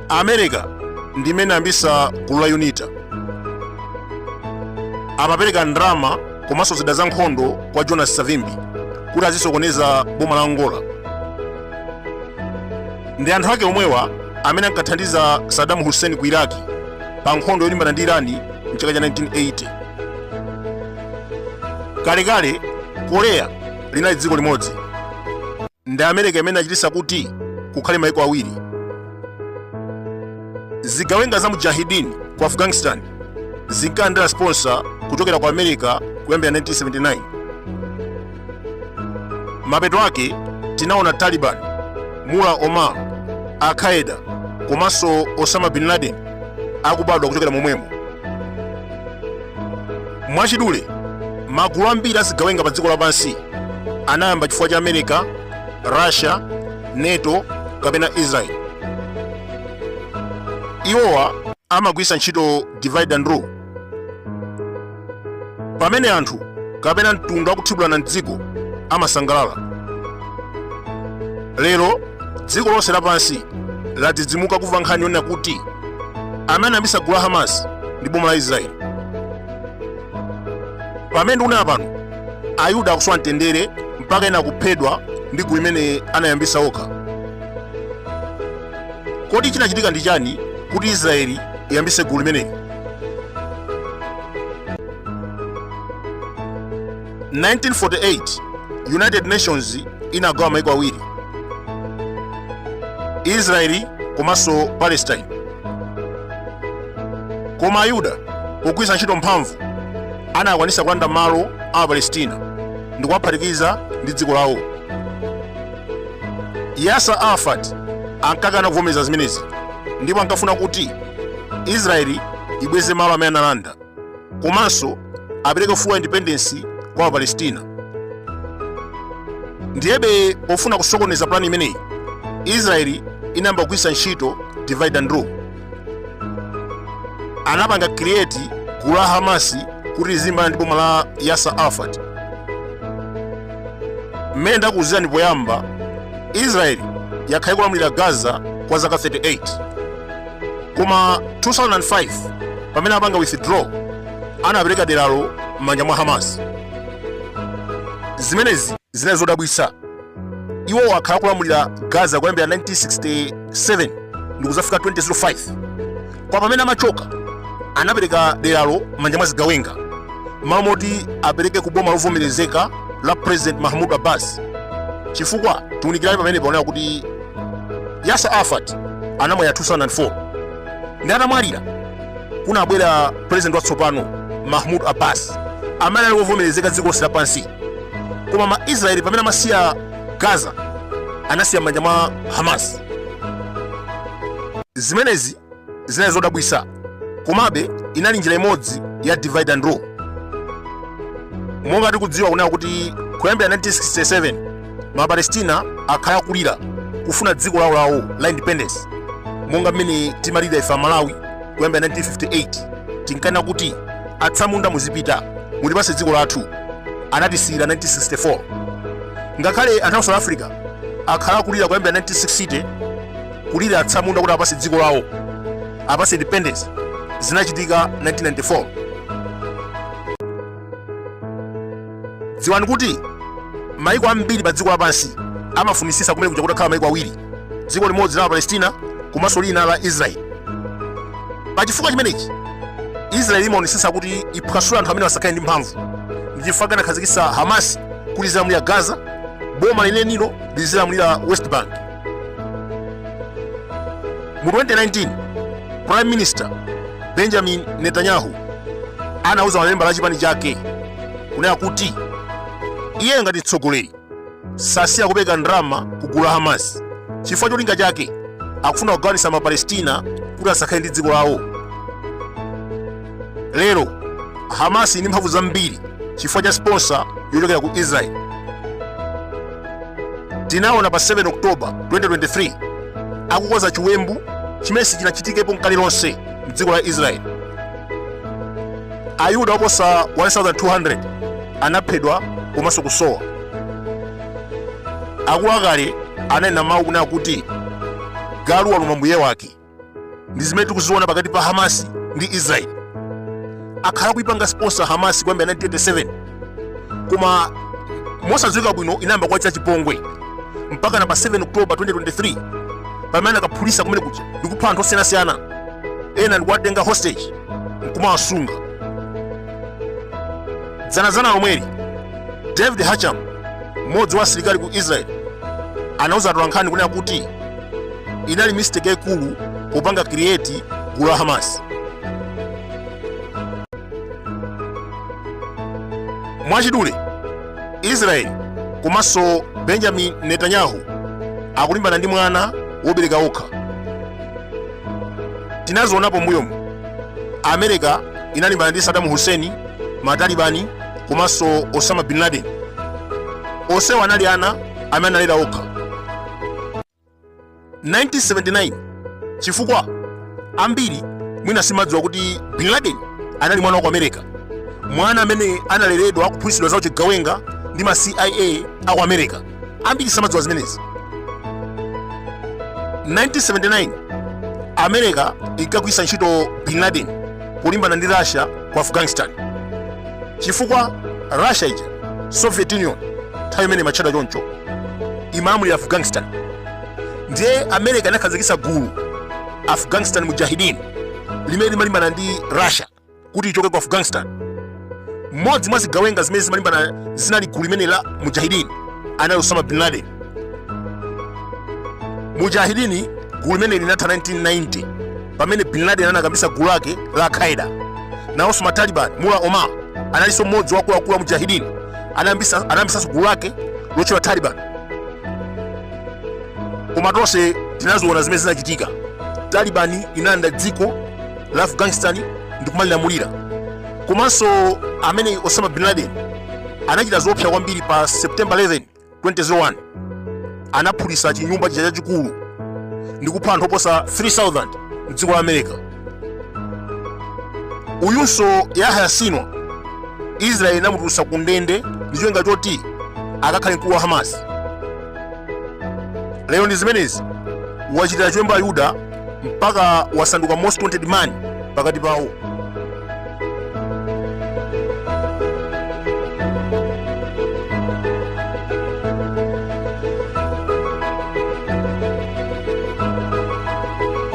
america ndimene inayambitsa gulu la unita amapereka ndrama komanso zida za nkhondo kwa jonas savimbi kuti azisokoneza boma la angola ndi anthu ake omwewa amene ankathandiza Saddam Hussein ku Iraq pa nkhondo yolimbana ndi Irani mchaka cha 1980. Kalekale Korea linali dziko limodzi ndi America imene inachititsa kuti kukhale maiko awiri. Zigawenga za Mujahideen ku Afghanistan zinkalandira sponsor kuchokera ku America kuyambira 1979. mapeto ake tinaona taliban mullah omar al-qaeda komanso osama bin laden akubadwa kuchokera momwemo mwachidule magulu ambiri azigawenga pa dziko lapansi anayamba chifukwa cha america russia nato kapena israel iwowa amagwiritsa ntchito divide and rule pamene anthu kapena mtundu akuthibulana mdziko amasangalala lero dziko lonse lapansi ladzidzimuka kumva nkhani yonena kuti amene anayambitsa gulu la hamas ndi boma la israeli pamene ndikunena pano ayuda akusowa mtendere mpaka ena kuphedwa ndi gulu limene anayambitsa okha kodi chinachitika ndi chani kuti israeli iyambitse gulu limeneli 1948 united nations inagawa maiko awiri israeli komanso palestine koma ayuda pogwiritsa ntchito mphamvu anakwanisa kulanda malo a apalestina ndi kuwaphatikiza ndi dziko lawo yasser arafat ankakana kuvomereza zimenezi ndipo ankafuna kuti israeli ibweze malo amene analanda komanso apereke full independence kwa apalestina ndiyebe pofuna kusokoneza pulani imeneyi israeli inayamba kugwiritsa ntchito divide and rule anapanga create gulu la hamasi kuti lizilimbana ndi boma la yasser arafat mmene ndakuwuzirani poyamba israeli yakhala ikulamulira gaza kwa zaka 38 koma 2005 pamene apanga withdraw anapereka deralo m'manja mwa hamas zimenezi zinali zodabwitsa iwo akhala kulamulira gaza kuyambira 1967 ndi kuzafika 2005 kwa pamene amachoka anapereka deralo m'manja mwa zigawenga m'malo moti apereke ku boma lovomerezeka la president mahmud abbas chifukwa tiunikirani pamene paonera kuti yasser arafat anamwalira 2004 ndi atamwalira kunabwera president watsopano mahmud abbas amene ali wovomerezeka dziko lonse lapansi koma ma israeli pamene amasiya gaza anasiya m'manja mwa hamas zimenezi Zinali zodabwisa, komabe inali njira imodzi ya divide and rule. Monga tikudziwa kunena kuti kuyambira 1967 mapalestina akhala akulira kufuna dziko lawo lawo la independence monga mmene timalira ife amalawi kuyambira 1958 tinkana kuti atsamunda muzipita mutipase dziko lathu anatisiyira 1964 ngakhale anthu a south africa akhala akulira kuyambira 1960 kulira atsamunda kuti apase dziko lawo apase independence zinachitika 1994 dziwani kuti maiko ambiri pa dziko lapansi amafunisisa kumene kuja kutakhala maiko awiri dziko limodzi la palestina komanso lina la israeli pa chifukwa chimenechi israeli imaonesesa kuti iphwasule anthu amene asakhale ndi mphamvu ndi chifukwa anakhazikisa hamasi kuti izilamulira gaza boma lenenilo lizilamulira west bank mu 2019 prime minister benjamin netanyahu anauza mamembala a chipani chake kunena kuti iye ngati mtsogoleri sasiya kupereka ndalama ku gulu la hamas chifukwa cholinga chake akufuna kugawanitsa mapalestina kuti asakhale ndi dziko lawo lero hamas ili ndi mphamvu zambiri chifukwa cha sponsor yochokera ku israel tinaona pa 7 oktoba 2023 akukonza chiwembu chimene sichinachitikepo nkale lonse mdziko la israel ayuda oposa 1200 anaphedwa komanso kusowa akuluakale ananena mawu kunena kuti galu waluma mbuye wake ndi zimene tikuziona pakati pa hamasi ndi israeli akhala kuipanga sponsor hamasi kuyambira 1987 koma mosadziwika bwino inayamba kuwachitira chipongwe mpaka na pa 7 oktoba 2023 pamene anakaphulisa kumene kuja ndikupha anthu osiyanasiyana ena ndikuwatenga hostage nkumawasunga dzanazana lomweli david hacham Mmodzi wa asilikali ku Israel anauza atolankhani kunena kuti inali mistake yaikulu kupanga create gulu la Hamas. Mwachidule, Israel komanso Benjamin Netanyahu akulimbana ndi mwana wobereka okha. Tinazionapo mbuyomu, America inalimbana ndi Saddam Hussein matalibani komanso osama bin laden onsewa anali ana amene analera okha 1979 chifukwa ambiri mwina samadziwa kuti bin laden anali mwana wa ku america mwana amene analeredwa kuphunzitsidwa za uchigawenga ndi ma cia aku america ambiri samadziwa zimenezi 1979 america inkagwiritsa ntchito bin laden kulimbana ndi russia ku afghanistan chifukwa russia ija soviet union nthawi imeneyo imatchedwa choncho imalamulira afghanistan ndiye america inakhazikitsa gulu afghanistan mujahidin limene limalimbana ndi russia kuti ichoke ku afghanistan mmodzi mwa zigawenga zimene zimalimbana zinali m'gulu limeneli la mujahidini anali osama bin laden mujahidini gulu limene linatha 1990 pamene bin laden anayambitsa gulu lake la al-qaeda nawonso mataliban mula omar analinso mmodzi wa akuluakulu wa mujahidini anayambitsanso gulu lake lotchedwa taliban koma tonse tinaziona zimene zinachitika talibani inalanda dziko la afghanistan ndi kumalilamulira komanso mmene osama bin laden anachita zoopsa kwambiri pa september 11 2001 anaphulitsa chinyumba chija chachikulu ndi kupha anthu oposa 3000 mdziko la america uyunso yahya sinwar israeli inamutulutsa ku ndende ndi cholinga choti akakhale mkulu wa hamas lero ndi zimenezi wachitira chiwembu ayuda mpaka wasanduka most wanted man pakati pawo